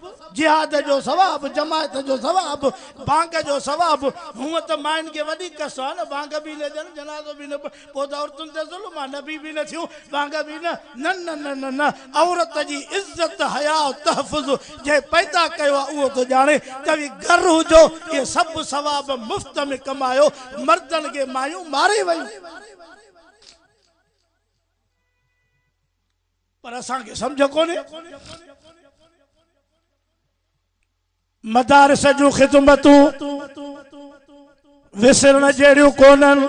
به جهاد جو ثواب، جماعت جو ثواب، ڀاڱ جو ثواب، هونء ته ماين کي وڏي ڪس آ نه، ڀاڱ به نه ڏين، جنازو به نه پڙهن، پوء ته عورتن تي ظلم آ، نبي به نه ٿيون، ڀاڱ به نه، نه نه نه نه نه، عورت جي عزت، حياء، تحفظ جنهن پيدا ڪيو آ اهو ٿو ڄاڻي ته وي گر هجو، اهي سڀ ثواب مفت ۾ ڪمايو، مردن کي مايون ماري ويون. پر اسان کي سمجهه ڪونهي مدارس جون خدمتون وسرڻ جهڙيون ڪونهن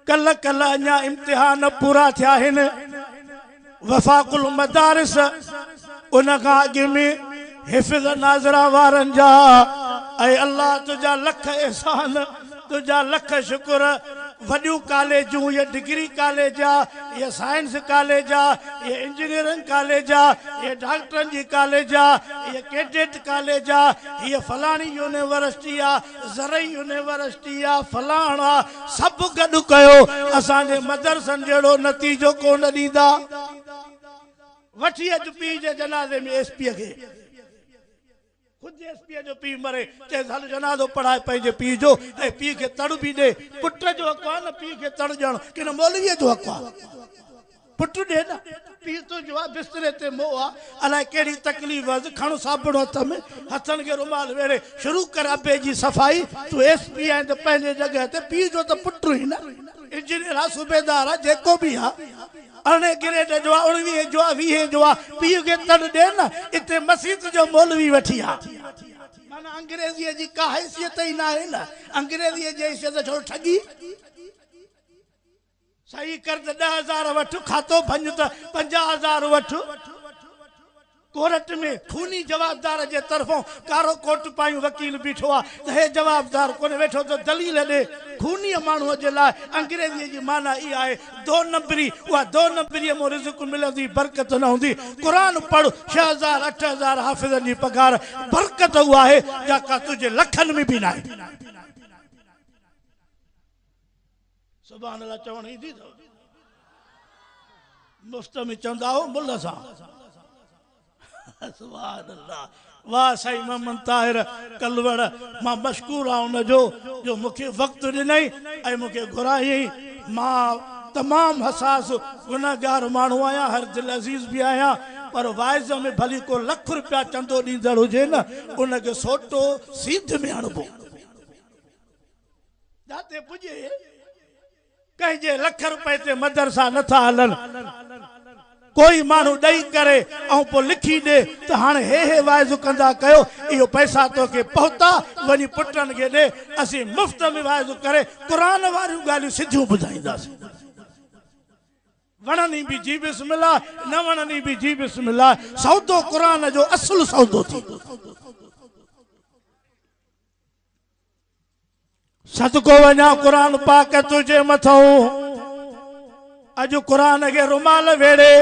ڪل ڪل اڃا امتحان پورا ٿيا آهن وفاق المدارس ان کان اڳ ۾ حفظ ناظره وارن جا اي الله تنهنجا لک احسان تنهنجا لک شڪر وڏيون ڪاليجون اهي ڊگري ڪاليج اهي سائنس ڪاليج اهي انجنيئرنگ ڪاليج اهي ڊاڪٽرن جي ڪاليج اهي ڪيڊيٽ ڪاليج هيء فلاڻي يونيورسٽي آ زرعي يونيورسٽي آ فلاڻ آ سڀ گڏ ڪيو اسان جي مدرسن جهڙو نتيجو ڪونه ڏيندا. وٺي اچ پيء جي جنازي ۾ ايس پيء کي خود جي ايس پيء جو پيء مري چيس هل جنازو پڙهائي پنهنجي پيء جو ۽ پيء کي تڙ به ڏي پٽ جو حق آ نه پيء کي تڙ ڏيڻ ڪنهن مولويء جو حق آ پٽ ڏي نه. پيء تنهنجو آ بستري تي مئو آ الائي ڪهڙي تڪليف هئس کڻ صابڻ هٿ ۾ هٿن کي رومال ويڙهي شروع ڪر ابي جي صفائي تون ايس پيء آهين ته پنهنجي جڳهه تي پيء جو ته پٽ هئين نه انجنيئر آ صوبيدار آ جيڪو به آ ارڙهين ڪريٽ جو آ، اڻويهين جو آ، ويهين جو آ، پيء کي تڙ ڏي نه، اتي مسيت جو مولوي وٺي آ. معنيٰ انگريزيء جي ڪا حيثيت ئي ناهي نه، انگريزيء جي حيثيت ڇوڙ ٺڳي. صحيح ڪر ته ڏهه هزار وٺ، کاتو ڀڃ ته پنجاهه هزار وٺ. ڪورٽ ۾ خوني جوابدار جي طرفون ڪارو ڪوٽ پايون وڪيل بيٺو آ ته هي جوابدار ڪونه ويٺو ته دليل ڏي. خونيء ماڻهوء جي لاء انگريزيء جي معنيٰ اها آهي دو نمبري، اها دو نمبريء مون رزق ملندي برڪت نه هوندي. قرآن پڙهه، ڇهه هزار اٺ هزار حافظن جي پگهار برڪت اها آهي جاڪا تنهنجي لکن ۾ به ناهي. سبحان الله چوڻ ايزي اٿو مفت ۾ چوندا هو ملھ سان سبحان الله واه سائين محمد طاهر ڪلوڙ مان مشڪور آهيان ان جو جو مون کي وقت ڏنئي ۽ مون کي گهرايئي مان تمام حساس گنهگار ماڻهو آهيان هر دلعزيز به آهيان پر واعظ ۾ ڀلي ڪو لک روپيا چندو ڏيندڙ هجي نه ان کي سوٽو سيڌ ۾ هڻبو جاتي پڄي ڪنهن جي لک روپئي تي مدرسا نه ٿا هلن. ڪوئي ماڻهو ڏئي ڪري ۽ پوء لکي ڏي ته هاڻي هي هي واعظ ڪندا ڪيو اهي پئسا توکي پهتا وڃي پٽن کي ڏي اسين مفت ۾ واعظ ڪري قرآن واريون ڳالهيون سڌيون ٻڌائينداسين. وڻني به جي بسم الله نه وڻني به جي بسم الله سودو قرآن جو اصل سودو ٿيندو. صدقو وڃان قرآن پاڪ تنهنجي مٿئون اڄ قرآن کي رومال ويڙهي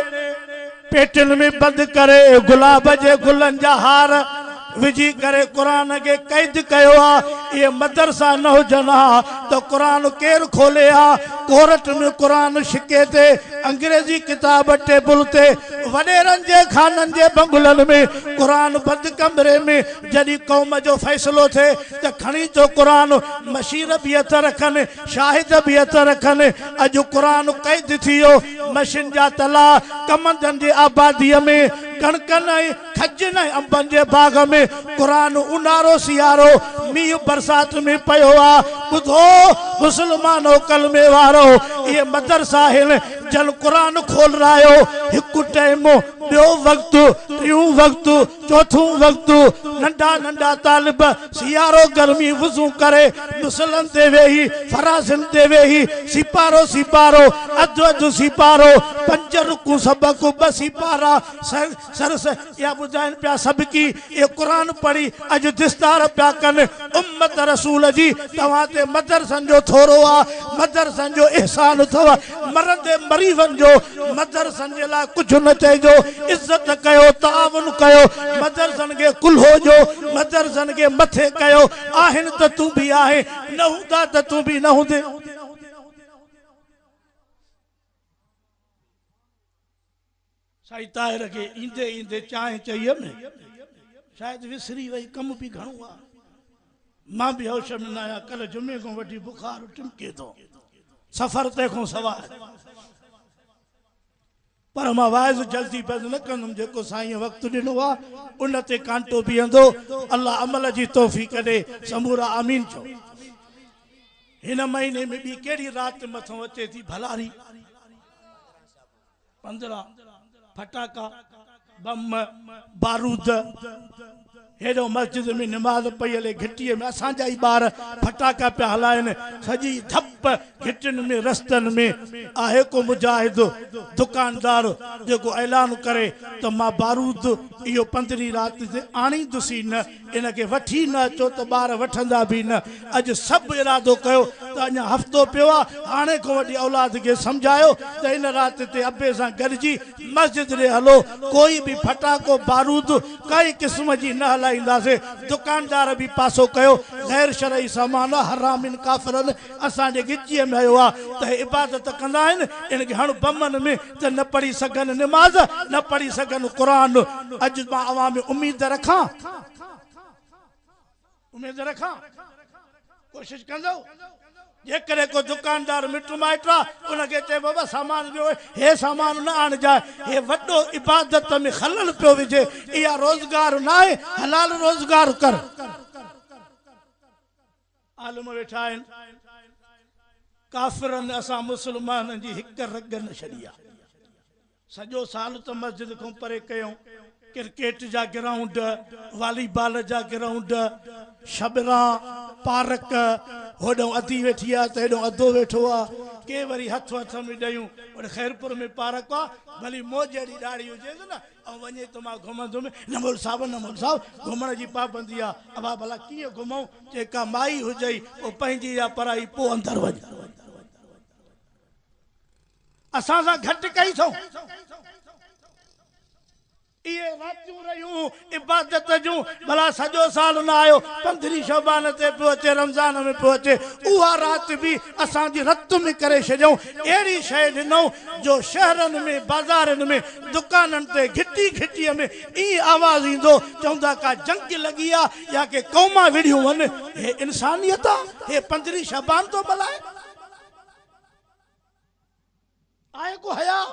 پيٽين ۾ بند ڪري گلاب جي گلن جا هار وجهي ڪري قرآن کي قيد ڪيو آ اهي مدرسا نه هجن ها ته قرآن ڪير کولي ها ڪورٽ ۾ قرآن شڪي تي انگريزي ڪتاب ٽيبل تي وڏيرن جي خانن جي بنگلن ۾ قرآن بند ڪمري ۾ جڏهن قوم جو فيصلو ٿئي ته کڻي ٿو قرآن، مشير به هٿ رکن، شاهد به هٿ رکن. اڄ قرآن قيد ٿي ويو، مشين جا تلا ڪمندن جي آباديء ۾، ڪڻڪن ۽ کجين ۽ انبن جي باغ ۾، قرآن اونهارو سيارو، مينهن برسات ۾ پيو آ. ٻڌو مسلمانو ڪلمي وارو، اهي مدرسا آهن جن قرآن کولرايو، هڪ ٽيم، ٻيو وقت، ٽيون وقت، چوٿون وقت، ننڍا ننڍا طالب سيارو گرمي وضو ڪري مصلن تي ويهي، فراشن تي ويهي سيپارو سيپارو، اڌ اڌ سيپارو، پنج رڪون سبق، ٻه سيپارا، سرس اها ٻڌائين پيا سبقي، اهو قرآن پڙهي اڄ دستار پيا ڪن. امت رسول جي توهان تي مدرسن جو ٿورو آ، مدرسن جو احسان اٿو. مرندي مريضن جو مدرسن جي لاء ڪجهه نه چئجو عزت ڪيو تعاون ڪيو مدرسن کي ڪلهو جو مدرسن کي مٿي ڪيو آهن ته تون به آهين نه هوندا ته تون به نه هوندين. سائين طاهر کي ايندي ايندي چانهه چئي م شايد وسري وئي ڪم به گهڻو آ مان به هوش م ناهيان ڪلهه جمعي کان وٺي بخار ٽمڪي ٿو سفر تي کان سواء پر مان واعظ جلدي بند نه ڪندم جيڪو سائين وقت ڏنو آ ان تي ڪانٽو بيهندو الله عمل جي توفيق ڏي سمورا آمين چئو هن مهيني ۾ ٻي ڪهڙي رات مٿان اچي ٿي ڀلاري پندرهن ڦٽاڪا، بم، بارود، هيڏهو مسجد ۾ نماز پئي هلي، گهٽيء ۾ اسان جا ئي ٻار ڦٽاڪا پيا هلائين، سڄي ڌپ گهٽين ۾ رستن ۾ آهي ڪو مجاهد، دڪاندار، جيڪو اعلان ڪري ته مان بارود اهو پندرهين رات تي آڻيندس ئي نه، ان کي وٺي نه اچو ته ٻار وٺندا به نه. اڄ سڀ ارادو ڪيو ته اڃا هفتو پيو آ، هاڻي کون وٺي اولاد کي سمجهايو ته هن رات تي ابي سان گڏجي مسجد ڏي هلو، ڪوئي به ڦٽاڪو بارود ڪنهن قسم جي نه هلائينداسين. دڪاندار به پاسو ڪيو، غير شرعي سامان آ، حرامين ڪافرن اسان جي ڳچيء ۾ هنيو آ ته هي عبادت ڪندا آهن، ان کي هڻ بمن ۾. ته نه پڙهي سگهن نماز، نه پڙهي سگهن قرآن. اڄ مان اوهان ۾ اميد رکان. اميد رکان. ڪوشش ڪندؤ. جيڪڏهن ڪو دڪاندار مٽ مائٽ آ، ان کي چئي بابا سامان ڏيو، هي سامان نه آڻجانء، هي وڏو عبادت ۾ خلل پيو وجهي، اها روزگار ناهي، حلال روزگار ڪر. عالم ويٺا آهن ڪافرن اسان مسلمانن جي هڪ رڳ نه ڇڏي آ سڄو سال ته مسجد کون پري ڪيون ڪرڪيٽ جا گرائونڊ والي بال جا گرائونڊ شبران پارڪ هوڏئون ادي ويٺي آ ته هيڏئون ادو ويٺو آ ڪي وري هٿ هٿ ۾ ڏيون هوڏ خيرپور ۾ پارڪ آ ڀلي موجهڙي ڏاڙهي هجيس نه او وڃي تو مان گهمندم نه مول صاحب نه مول صاحب گهمڻ جي پابندي آ اڀا ڀلا ڪيئن گهمئون چي ڪا مائي هجئي پو پنهنجي يا پرائي پو اندر وڃ اسان سان گهٽ ڪئي اٿئون اهي راتيون رهيون عبادت جون ڀلا سڄو سال نه آيو پندرهين شعبان تي پيو اچي رمضان ۾ پيو اچي اها رات به اسان جي رت ۾ ڪري ڇڏيئون اهڙي شيء ڏنو جو شهرن ۾ بازارن ۾ دڪانن تي گهٽي گهٽيء ۾ ائين آواز ايندو چوندا ڪا جنگ لڳي آ يا ڪي قومان وڙهيون هن هي انسانيت آ هي پندرهين شعبان ٿو ملهائي آهي ڪو حياء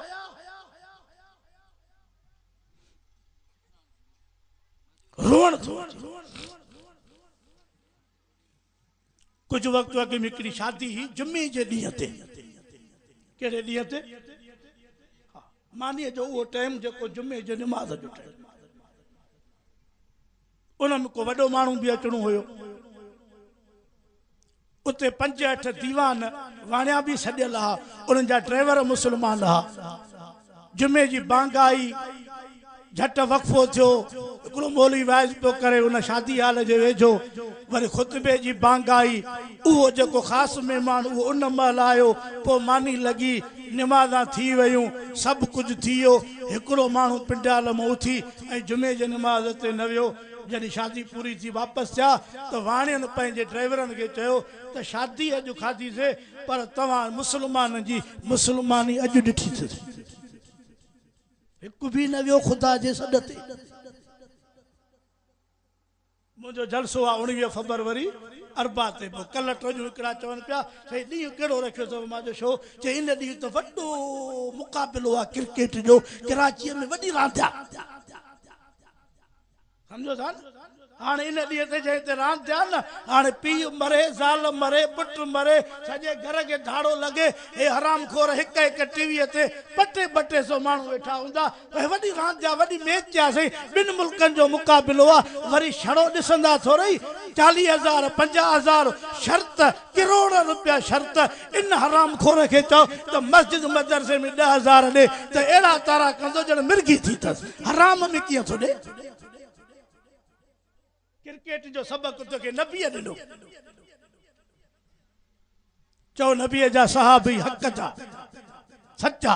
روئڻ ٿو اچي. ڪجهه وقت اڳ ۾ هڪڙي شادي هئي جمعي جي ڏينهن تي. ڪهڙي ڏينهن تي؟ ها مانيء جو اهو ٽائيم جيڪو جمعي جي نماز جو ٽائيم. ان ۾ ڪو وڏو ماڻهو به اچڻو هيو. اتي پنج اٺ ديوان واڻيا به سڏيل ها. انهن جا ڊرائيور مسلمان ها. جمعي جي بانگ آئي، جهٽ وقفو ٿيو، هڪڙو مولوي وعظ پيو ڪري، ان شادي هال جي ويجهو وري خطبي جي بانگ آئي، اهو جيڪو خاص مهمان اهو ان مهل آيو، پوء ماني لڳي، نمازان ٿي ويون، سڀ ڪجهه ٿي ويو، هڪڙو ماڻهو پنڊال مان اٿي ۽ جمعي جي نماز تي نه ويو، جڏهن شادي پوري ٿي واپس ٿيا ته واڻين پنهنجي ڊرائيورن کي چيو ته شادي اڄ کاڌيسي پر توهان مسلمانن جي مسلماني اڄ ڏٺي اٿس. هڪ به نه ويو خدا جي سڏ تي. منهنجو جلسو آهي اوڻويهه فبروري اربع تي پوء ڪلهه ٽوڄون هڪڙا چون پيا سائين ڏينهن ڪهڙو رکيو اٿو مان چيو شو چي ان ڏينهن ته وڏو مقابلو آهي ڪرڪيٽ جو ڪراچي ۾ وڏي راند آهي. سمجهيو ٿا نه؟ هاڻ ان ڏينهن تي جنهن تي راند ٿيا نه، هاڻي پيء مري، زال مري، پٽ مري، سڄي گهر کي ڌاڙو لڳي، هي حرام خور هڪ هڪ ٽي ويء تي ٻه ٽي ٻه ٽي سئو ماڻهو ويٺا هوندا، اهي وڏي راند ٿيا، وڏي ميچ ٿيا سائين، ٻن ملڪن جو مقابلو آ، وري شڙو ڏسندا ٿورئي، چاليهه هزار، پنجاهه هزار شرط، ڪروڙ روپيا شرط، ان حرام خور کي چئو ته مسجد مدرسي ۾ ڏهه هزار ڏي ته اهڙا تارا ڪندو ڄڻ مرگي ٿي اٿس. حرام ۾ ڪيئن ٿو ڏي. ڪرڪيٽ جو سبق توکي نبيء ڏنو. چئو نبيء جا صحابي حق جا، سچا.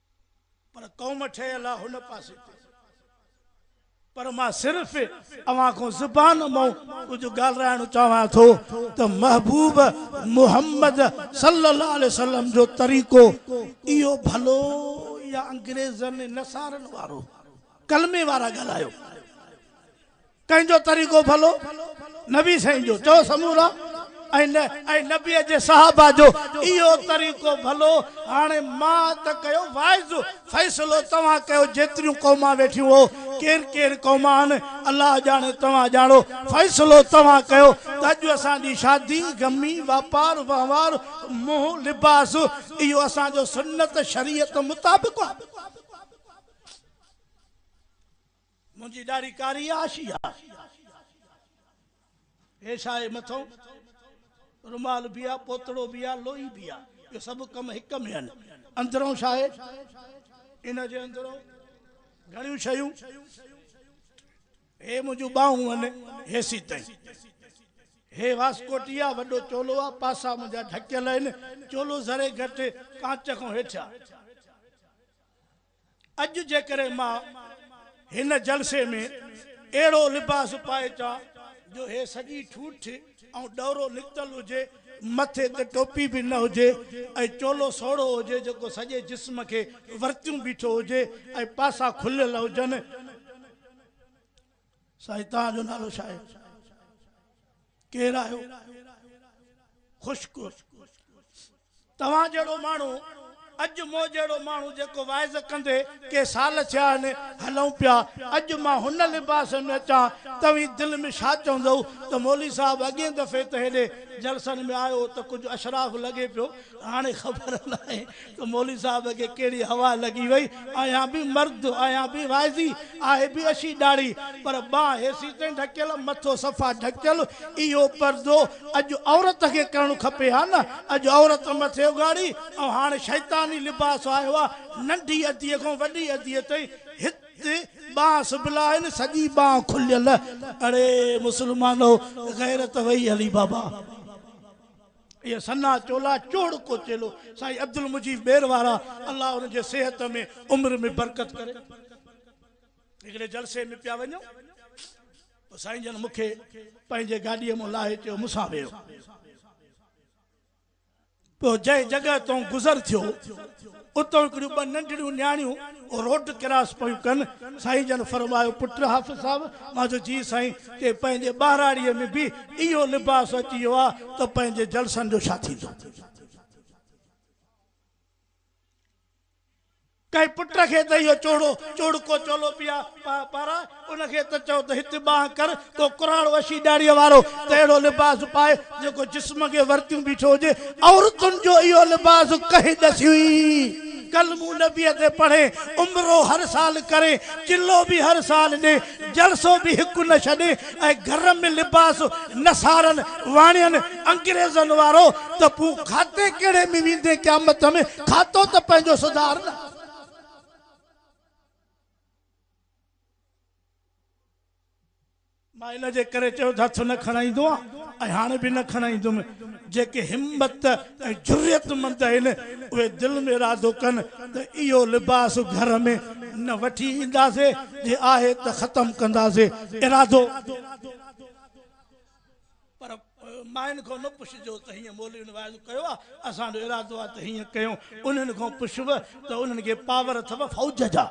پر قوم ٺهيل آ هن پاسي تي. پر مان صرف اوهان کان زبان مئون ڪجهه ڳالرائڻ چاهيان ٿو ته محبوب محمد صلي الله عليه وسلم جو طريقو اهو ڀلو يا انگريزن نصارن وارو ڪلمي وارا ڳالهايو. ڪنهن جو طريقو ڀلو؟ نبي سائين جو چئو سمورا ۽ نبي جي صحابه جو اهو طريقو ڀلو هاڻي مان ته ڪيو واعظ فيصلو توهان ڪيو جيتريون قومان ويٺيون هو ڪين ڪين قومان آهن الله ڄاڻي توهان ڄاڻو فيصلو توهان ڪيو ته اڄ اسان جي شادي غمي واپار وهنوار منهن لباس اهو اسان جو سنت شريعت مطابق آهي. منهنجي ڏاڙهي ڪاري آ آشي آ. هي ڇا آهي مٿئون رومال به آ پوتڙو به آ لوئي به آ اهو سڀ ڪم هڪ ۾ آهن اندرئون ڇا آهي ان جي اندرئون گهڻيون شيون هي منهنجون ٻانهون آهن هيسي تائين هي واسڪوٽي آ وڏو چولو آ پاسا منهنجا ڍڪيل آهن چولو ذري گهٽ ڪانچ کان هيٺ آ. اڄ جيڪڏهن مان هن جلسي ۾ اهڙو لباس پائي اچان جو هي سڄي ٺوٺ ۽ ڏورو نڪتل هجي، مٿي تي ٽوپي به نه هجي ۽ چولو سوڙهو هجي جيڪو سڄي جسم کي ورتيون بيٺو هجي ۽ پاسا کليل هجن، سائين توهان جو نالو ڇا آهي؟ ڪير آهيو؟ خشڪ. توهان جهڙو ماڻهو اڄ مون جهڙو ماڻهو جيڪو واعظ ڪندي ڪي سال ٿيا آهن هلئون پيا اڄ مان هن لباس ۾ اچان توهين دل ۾ ڇا چوندئو ته مولوي صاحب اڳئين دفعي ته هيڏي جلسن ۾ آيو هو ته ڪجهه اشراف لڳي پيو هاڻي خبر ناهي ته مولوي صاحب کي ڪهڙي هوا لڳي وئي آهيان به مرد آهيان به واعظي آهي به اشي ڏاڙهي پر ٻانهن هيسي تائين ڍڪيل مٿو صفا ڍڪيل اهو پردو اڄ عورت کي ڪرڻ کپي ها نه اڄ عورت مٿي اگهاڙي ۽ هاڻ شيطاني لباس آهي اها ننڍي ادي کان وڏي ادي تائين هت ٻانهن سبيل آهن سڄي ٻانهن کليل اڙي مسلمانو غيرت وئي هلي بابا اهي سنا چولا چوڙ ڪو چيلو سائين عبدالمجيد ٻير وارا الله انهن جي صحت ۾ عمر ۾ برڪت ڪري هڪڙي جلسي ۾ پيا وڃون. سائين جن مون کي پنهنجي گاڏيء مون لاهي چيو، مون سان ويهه. پوء جنهن جڳهه تون گذر ٿيو، اتون هڪڙيون ٻه ننڍڙيون نياڻيون روڊ ڪراس پيون ڪن. سائين جن فرمايو، پٽ حافظ صاحب! مان چيو، جي سائين! ڪنهن پنهنجي ٻهراڙيء ۾ به اهو لباس اچي ويو آ ته پنهنجي جلسن جو ڇا ٿيندو؟ ڪنهن پٽ کي ته اهو چوڙو چوڙڪو چولو پيا پاراء، ان کي ته چئو ته هت ٻانهن ڪر، ڪو ڪراڙ وشي ڏاڙهيء وارو ته اهڙو لباس پائي، جيڪو جسم کي ورتيون بيٺو هجي. عورتن جو اهو لباس ڪنهن ڏسيو ئي؟ ڪل مون نبيء تي پڙهين، عمرو هر سال ڪرين، چلو به هر سال ڏين، جلسو به هڪ نه ڇڏين، ۽ گهر ۾ لباس نصارن، واڻين، انگريزن وارو ته پون کاتي ڪهڙي ۾ ويندين قيامت ۾، کاتو ته پنهنجو سڌار نه. مان ان جي ڪري چيو ته هٿ نه کڻائيندو آهيان ۽ هاڻي به نه کڻائيندم. جيڪي همت ۽ جرئت مند آهن اهي دل ۾ ارادو ڪن ته اهو لباس گهر ۾ نه وٺي اينداسين، جي آهي ته ختم ڪنداسين. ارادو. پر مائن کان نه پڇجو ته هيئن مولوين واعظ ڪيو آ، اسان جو ارادو آ ته هيئن ڪيون، انهن کان پڇوء ته انهن کي پاور اٿو فوج جا،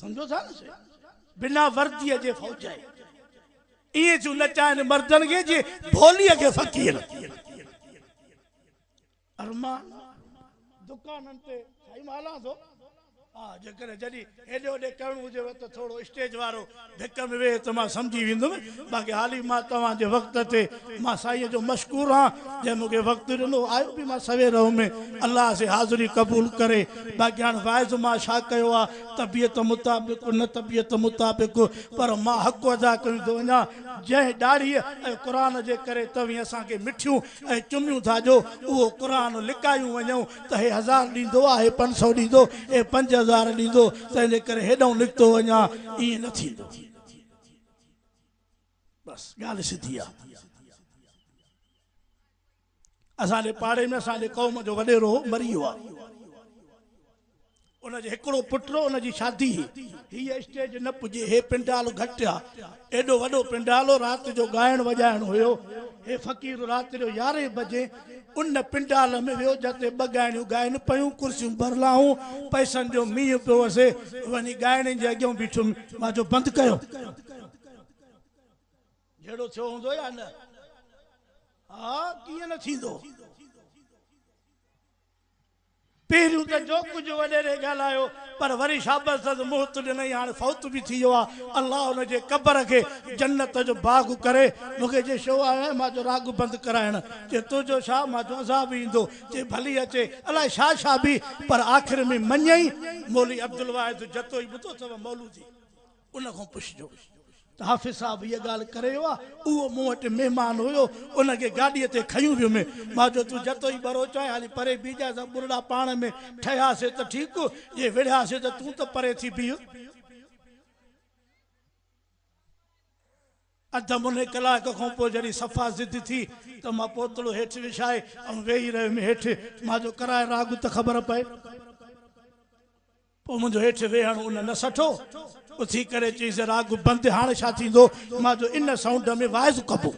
سمجهو ٿا نه سي بنا ورديء جي فوج آهي، ائين ٿيون نچائن مردن کي جيئن ڀوليء کي فقير. ارمان دڪانن تي سائين مان هلان ٿو ها جيڪڏهن جڏي هيڏي هوڏي ڪرڻو هجيو ته ٿورو اسٽيج وارو ڀڪ ۾ ويهه ته مان سمجهي ويندم باقي حالي مان توهان جي وقت تي مان سائين جو مشڪور آهان جنهن مونکي وقت ڏنو آيو به مان سوير هومي الله سي حاضري قبول ڪري باقي هاڻ واعظ مان ڇا ڪيو آ طبيعت مطابق نه طبيعت مطابق پر مان حق ادا ڪندو وڃان جنهن ڏاڙهي ۽ قرآن جي ڪري توهين اسان کي مٺيون ۽ چميون ٿا جو اهو قرآن لڪايون وڃئون ته هي هزار ڏيندو آ هي پنج سؤ ڏيندو هي پنج هزار ڏيندو تنهن جي ڪري هيڏئون نڪتو وڃان ائين نه ٿيندو بس ڳالهه سڌي آ اسان جي پاڙي ۾ اسان جي قوم جو وڏيرو مري ويو آ ان جو هڪڙو پٽ هو، ان جي شادي هئي. هيء اسٽيج نه پڄي، هي پنڊال گهٽ آ. ايڏو وڏو پنڊال هو، رات جو ڳائڻ وڄائڻ هيو. هي فقير رات جو يارهين بجي ان پنڊال ۾ ويو، جتي ٻه ڳائڻيون ڳائن پيون، ڪرسيون ڀرلاهون، پئسن جو مينهن پيو وسي. وڃي ڳائڻين جي اڳيان بيٺو، مان چيو، بند ڪيو. جهيڙو ٿيو هوندو يا نه؟ ها، ڪيئن نه ٿيندو. پهريون ته جو ڪجهه وڏيري ڳالهايو پر وري شابس سندس مهت ڏنئي هاڻ فوت به ٿي ويو آ الله ان جي قبر کي جنت جو باغ ڪري. مون کي چي شو آيو آهين مان چيو راڳ بند ڪرائڻ چي تنهنجو شا مان چيو ازان به ايندو چي ڀلي اچي الاء شا شا به پر آخر ۾ مڃئي مولوي عبدالواحد جتوئي ٻڌو اٿو مولودي. ان کان پڇجو ته حافظ صاحب هيء ڳالهه ڪري ويو آهي؟ اهو مون وٽ مهمان هيو، ان کي گاڏيء تي کنيون ويم. مان چيو، تون جتوئي ٻروچ آهين، هلي پري بيهجانء، اسان ٻرڙا پاڻ ۾ ٺهياسين ته ٺيڪ، جي وڙهياسين ته تون ته پري ٿي بيهه. اڌ مني ڪلاڪ کان پوء جڏهن صفا ضد ٿي ته مان پوتڙو هيٺ وڇائي ۽ ويهي رهيم هيٺ، مان چيو، ڪرائي راڳ ته خبر پئي. پوء منهنجو هيٺ ويهڻ ان نه سٺو. اٿي ڪري چيس، راڳ بند هاڻ ڇا ٿيندو؟ مان جو ان سائونڊ ۾ واعظ ڪبو.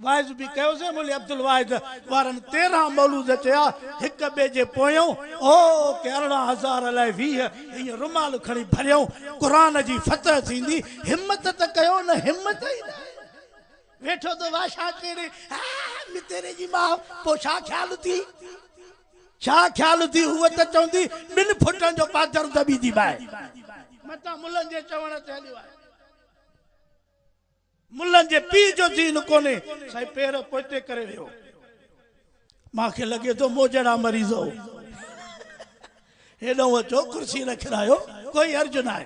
واعظ به ڪيوسين. مولوي عبدالواحد وارن تيرهن مولود چيا، هڪ ٻئي جي پويون، او ڪي ارڙهن هزار الائي ويهه، ائين رومال کڻي ڀريائون. قرآن جي فتح ٿيندي. همت ته ڪيو نه همت ئي نه آهي. ويٺو ٿو واشان ڪري، هاء متيري جي ماء، پوء ڇا خيال اٿيئي؟ ڇا خيال ٿي هوء ته چوندي ٻن فٽن جو پادر دٻي ٿي باهه. متان ملن جي چوڻ تي هليو آهي. ملن جي پيء جو ذهن ڪونهي سائين پير پوئتي ڪري ويهو. مان کي لڳي ٿو مون جهڙا مريض هو. هيڏانهن اچو ڪرسي رکرايو ڪوئي حرج ناهي.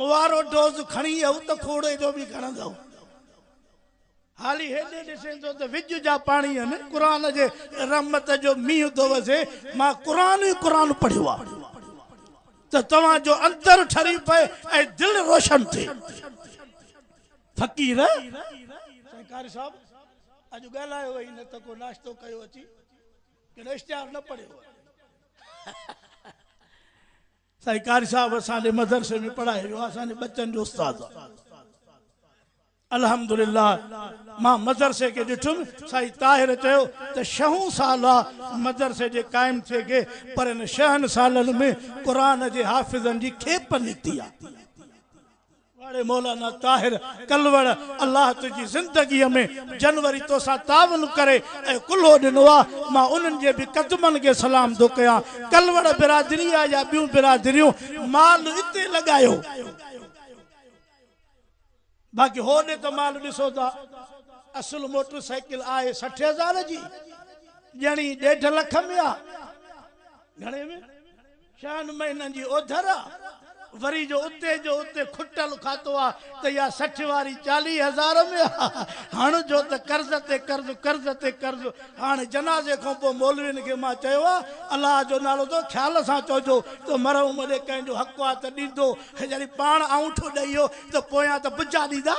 موارو ڊوز کڻي اهو ته کوڙي جو به کڻندؤ. هالي هيڏي ڏسين ٿو ته وڄ جا پاڻي هن قرآن جي رحمت جو مينهن ٿو وسي. مان قرآن ئي قرآن پڙهيو آ ته توهان جو اندر ٺري پئي ۽ دل روشن ٿئي. فقير، سائين قاري صاحب اڄ ڳالهايو هئي نه ته ڪو ناشتو ڪيو اچي ڪنهن اشتهار نه پڙهيو هئي. سائين قاري صاحب اسان جي مدرسي ۾ پڙهائي ويو آهي اسان جي ٻچن جو استاد آهي الحمدلله مان مدرسي کي ڏٺم سائين طاهر چيو ته شهون سال آ مدرسي جي قائم ٿئي کي پر ان شهن سالن ۾ قرآن جي حافظن جي کيپ نڪتي آ واري مولانا طاهر ڪلوڙ الله تنهنجي زندگي ۾ جنوري توسان تعاون ڪري ۽ ڪلهو ڏنو آ مان انهن جي به قدمن کي سلام ٿو ڪيان ڪلوڙ برادري آ يا ٻيون برادريون مال اتي لڳايو باقي هوڏي ته مال ڏسو ٿا اصل موٽر سائيڪل آهي سٺ هزار جي ڄڻي ڏيڍ لک ۾ آ گهڻي ۾ ڇهن مهينن جي اوڌر آ وري جو اتي جو اتي کٽل کاتو آ ته يا سٺ واري چاليهه هزار ۾ آ هڻ جو ته قرض تي قرض قرض تي قرض هاڻ جنازي کون پو مولوين کي مان چيو آ الله جو نالو تو خيال سان چوجو ته مرحوم ڏي ڪنهن جو حق آ ته ڏيندو هي جڏهن پاڻ آئونٺو ڏئي هيو ته پويان ته بجا ڏيندا.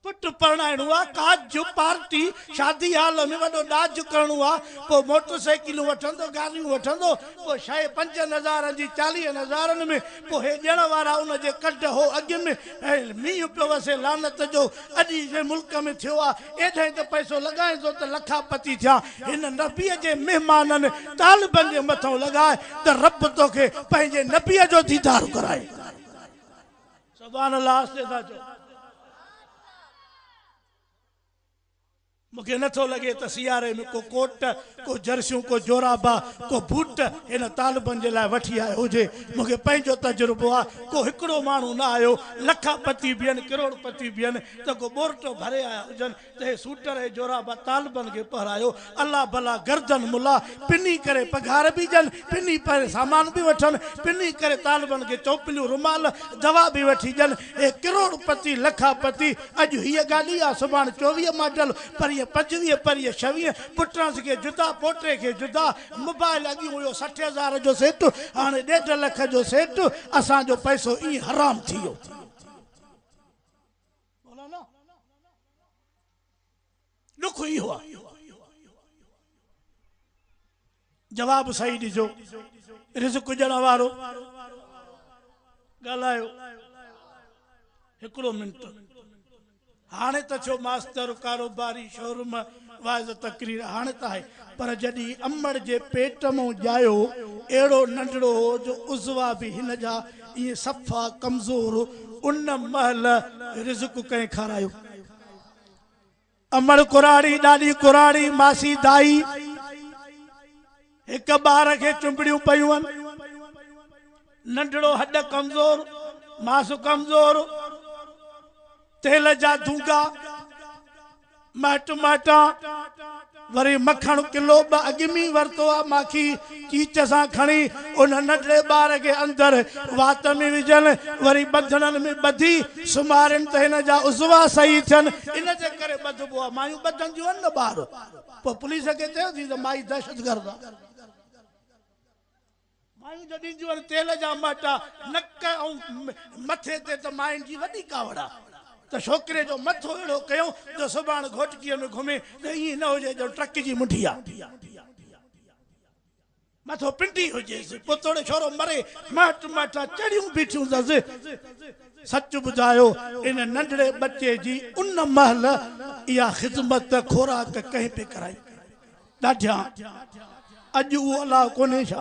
پٽ پرڻائڻو آ، ڪاڄ جو پارٽي، شادي هال ۾ وڏو ڏاج ڪرڻو آ، پوء موٽر سائيڪلون وٺندو، گاڏيون وٺندو، پوء شيء پنجن هزارن جي چاليهن هزارن ۾، پوء هي ڏيڻ وارا ان جي ڪڍ هو اڳ ۾، ۽ مينهن پيو وسي لعنت جو، اڄ هي شيء ملڪ ۾ ٿيو آ، ايڏهن ته پئسو لڳائين ٿو ته لکا پتي ٿيا، هن نبيء جي مهمانن طالبن جي مٿئون لڳاء ته رب توکي پنهنجي نبيء جو ديدار ڪرائي. سبحان الله آهستي ٿا چئو مونکي نه ٿو لڳي ته سياري ۾ ڪو ڪوٽ ڪو جرسيون ڪو جورابا ڪو بوٽ هن طالبن جي لاء وٺي آيو هجي مونکي پنهنجو تجربو آ ڪو هڪڙو ماڻهو نه آيو لکا پتي به هين ڪروڙ پتي به هين ته ڪو ٻورٽو ڀري آيا هجن تنهن سوٽر ۽ جورابه طالبن کي پهرايو. الله بلا گردن ملا پني ڪري پگهار به ڏين، پني پهري سامان به وٺن، پني ڪري طالبن کي چوپليون، رومال، دوا به وٺي ڏين. اي ڪروڙ پتي، لکا پتي، اڄ هيء گاڏي آ، سڀاڻ چوويهه ماڊل، پرينء پنجويهه، پرينء ڇويهه، پٽس کي جدا، پوٽي کي جدا. موبائل اڳيون هيو سٺ هزار جو سيٽ، هاڻي ڏيڍ لک جو سيٽ. اسان جو پئسو ائين حرام ٿي ويو. مولانا ڏک اهو آ جواب صحيح ڏجو رزق ڏيڻ وارو ڳالهايو هڪڙو منٽ هاڻي ته ٿيو ماستر ڪاروباري شوروم واعظ تقرير هاڻي ته آهي پر جڏهن امڙ جي پيٽ مون ڄايو اهڙو ننڍڙو هو جو عضوا به هن جا ائين صفا ڪمزور ان مهل رزق ڪنهن کارايو امڙ ڪراڙي ڏاڏي ڪراڙي ماسي دائي هڪ ٻار کي چنبڙيون پيون هن. ننڍڙو هڏ ڪمزور، ماس ڪمزور، تيل جا دونگا، مهٽ مهٽان، وري مکڻ ڪلو ٻه اڳ ۾ ئي ورتو آ، ماکي چيچ سان کڻي ان ننڍڙي ٻار کي اندر وات ۾ وجهن، وري ٻڌڻن ۾ ٻڌي سمهارين ته هن جا عضوا صحيح ٿين، ان جي ڪري ٻڌبو آ، مايون ٻڌنديون آهن نه ٻار. پوء پوليس کي چيوسين ته مائي دهشتگرد آهي. مايون جو ڏينديون آهن تيل جا مهٽا نڪ ۽ مٿي تي ته ماين جي وڏي ڪاوڙ آهي ته ڇوڪري جو مٿو اهڙو ڪيون جو سڀاڻ گهوٽڪيء ۾ گهمي ته ائين نه هجي ڄڻ ٽرڪ جي منڍي آهي. مٿو پنڊي هجيس، پوء توڙي ڇورو مري، مائٽ مائٽا چڙيون بيٺيون اٿس. سچ ٻڌايو، ان ننڍڙي ٻچي جي ان مهل اها خدمت خوراڪ ڪنهن پئي ڪرائي؟ ڏاڍيان! اڄ اهو الاهو ڪونهي ڇا؟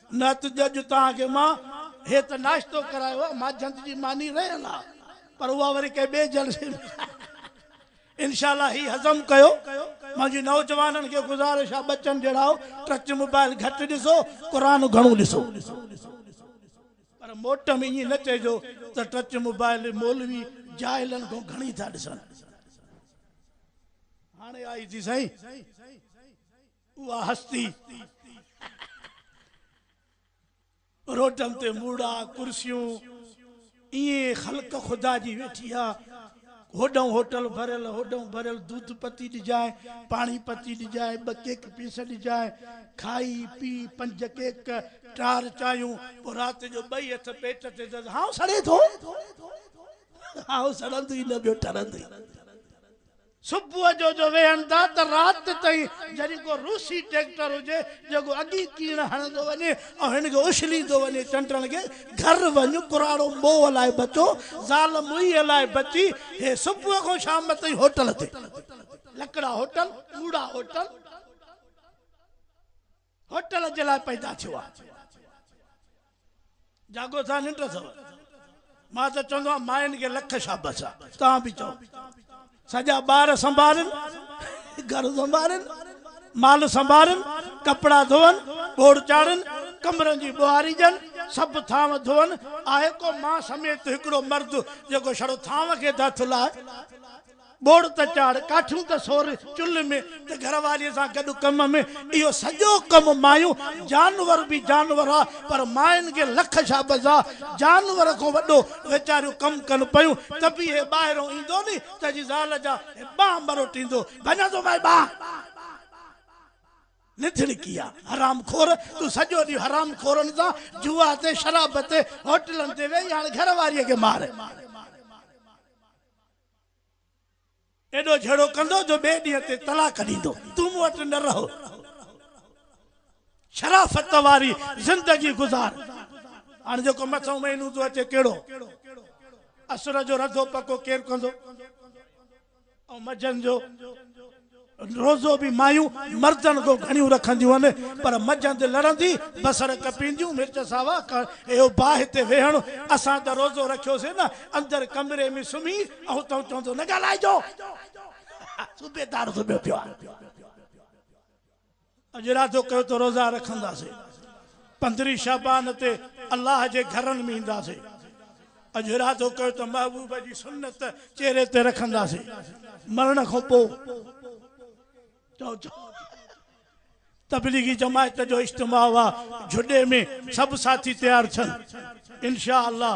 نه ته ڄڄ توهان کي مان هي ته ناشتو ڪرايو آ، ماجهند جي ماني رهيل آ، پر اها وري ڪنهن ٻئي جلسي ۾ انشاء الله هي هضم ڪيو. منهنجي نوجوانن کي گذارش آ ٻچن جهڙائو ٽچ موبائل گهٽ ڏسو، قرآن گهڻو ڏسو. پر موٽ ۾ ائين نه چئجو ته ٽچ موبائل مولوي جاهلن کان گهڻي ٿا ڏسن. هاڻي آئي ٿي سائين. اها هستي روٽن تي موڙا، ڪرسيون، ايئن خلق خدا جي ويٺي آ. هوڏانهن هوٽل ڀريل، هوڏانهن ڀريل، دودھ پتي ڏجانء، پاڻي پتي ڏجانء، ٻه ڪيڪ پيس ڏجانء. کائي پي پنج ڪيڪ، ٽار چانهيون، پوء رات جو ٻئي هٿ پيٽ تي دز، هائو سڙي ٿو. هائو سڙندو ئي نه، ٻيو ٺرندو ئي نه. صبح جو جو ويهن ٿا ته رات تائين جڏهن ڪو روسي ٽريڪٽر هجي جيڪو اڳي ڪيڻ هڻندو وڃي ۽ هن کي اڇليندو وڃي چنڊڻ کي گهر وڃ ڪراڙو موهه لاء بچو زال موئيء لاء بچي هي صبح کان شام تائين هوٽل تي لڪڙا هوٽل موڙا هوٽل. هوٽل جي لاء پيدا ٿيو آ. جاڳو ٿا ننڊ اٿو. مان ته چوندو آهيان ماين کي لک شابس آ. توهان به چئو. سڄا ٻار سنڀالين، گهر سنڀالين، مال سنڀالين، ڪپڙا ڌوئن، ٻوڙ چاڙهن، ڪمرن جي ٻوهاري ڏين، سڀ ٿانو ڌوئن، آهي ڪو مان سميت هڪڙو مرد جيڪو شڙو ٿانو کي ته هٿ لائي. ٻوڙ ته چاڙهه، ڪاٺيون ته سور، چلهه ۾ ته گهر واريء سان گڏ ڪم ۾، اهو سڄو ڪم مايون، جانور به جانور آ، پر ماين کي لک شابس آ، جانور کان وڏو ويچاريون ڪم ڪن پيون، ته به هي ٻاهران ايندو ني ته هجي زال جا هي ٻانهن مروٽيندو، ڀڃان ٿو مائي ٻانهن! نڌڻڪيا، حرام خور، تون سڄو ڏينهن حرام خورن سان جوا تي، شراب تي، هوٽلن تي ويهي هاڻ گهر واريء کي مار! ايڏو جهيڙو ڪندو جو ٻئي ڏينهن تي طلاق ڏيندو. تون مون وٽ نه رهو. شرافت واري زندگي گذار. هاڻ جيڪو مٿئون مهينو ٿو اچي ڪهڙو اسر جو رڌو پڪو ڪير ڪندو ۽ مجهن جو؟ روزو به مايون مردن کان گهڻيون رکنديون هن، پر مجهند لڙندي، بصر ڪپينديون، مرچ ساوا ڪڻ، اهو باهه تي ويهڻ، اسان ته روزو رکيوسين نه، اندر ڪمري ۾ سمهي، اهو تون چوندو نه ڳالهائجو. صوبيدار سمهيو پيو آهي. اڄ ارادو ڪيو ته روزا رکنداسي پندرهين شعبان تي الله جي گهرن ۾ اينداسي اڄ ارادو ڪيو ته محبوب جي سنت چهري تي رکنداسي مرڻ کان پو چئو چئو تبليغي جماعت جو اجتماع هئا جهڏي ۾ سڀ ساٿي تيار ٿين. انشاء الله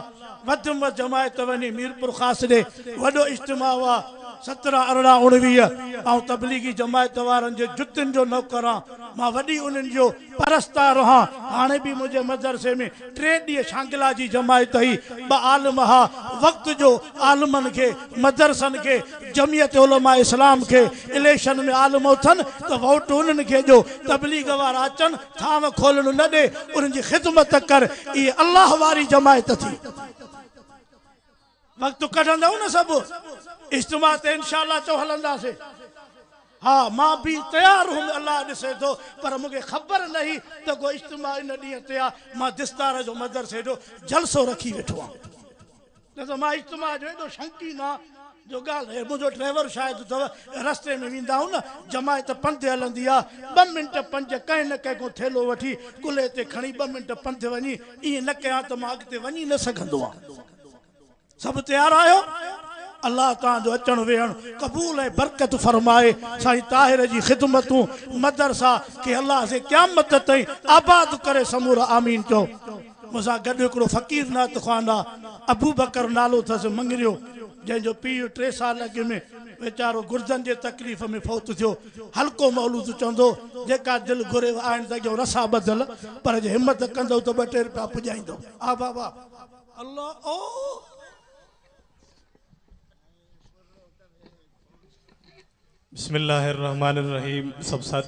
وڌ مھ جماعت تھ وڃي ميرپورخاص ڏي وڏو اجتماع اھا سترھن ارڙھن اڻويھھ آئون تبليغي جماعت وارن جي جتين جو نوڪر ھان مان وڏي انھن جو پرستار ھان ھاڻي به منھنجي مدرسي ۾ ٽي ڏينھن شانگلا جي جماعت ھئي ٻھ عالم اھا وقت جو عالمن کي مدرسن کي جمعيت علماء اسلام کي اليڪشن ۾ عالم اٿن تھ ووٽ انھن کي ڏيو تبليغ وارا اچن ٿانء کولڻ نه ڏي، انهن جي خدمت ڪر، اهي الله واري جماعت ٿي. وقت ڪڍندؤ نه سڀ اجتماع تي انشاء الله چئو هلنداسين. ها مان به تيار هئم الله ڏسي ٿو پر مون کي خبر نه هئي ته ڪو اجتماع ان ڏينهن تي آ، مان دستار جو مدرسي جو جلسو رکي ويٺو هئم. نه ته مان اجتماع جو ايڏو شوقين آهيان جو ڳالهه رهي. منهنجو ڊرائيور شاهد اٿو. رستي ۾ ويندا آهيون نه، جماعت پنڌ هلندي آهي. ٻه منٽ پنج، ڪنهن نه ڪنهن کان ٿيلهو وٺي، ڪلهي تي کڻي ٻه منٽ پنڌ وڃي. ائين نه ڪيان ته مان اڳتي وڃي نه سگهندو آهيان. سڀ تيار آهيو؟ الله توهان جو اچڻ ويهڻ قبول ۽ برڪت فرمائي. سائين طاهر جي خدمتون، مدرسا کي الله سين قيامت تائين آباد ڪري سمورا آمين چئو. مون سان گڏ هڪڙو فقير نعت خواندا ابوبڪر نالو ٿس مڱريو جنهن جو پيء ٽي سال اڳ ۾ ويچارو گردن جي تڪليف ۾ فوت ٿيو حلقو مولود چوندو جيڪا دل گهريو آڻين ته اڳيون رسا ٻڌل پر جي همت ڪندو ته ٻه ٽي رپيا پڄائيندو آ بابا الله او. بسم الله الرحمٰن الرحيم سڀ ساٿين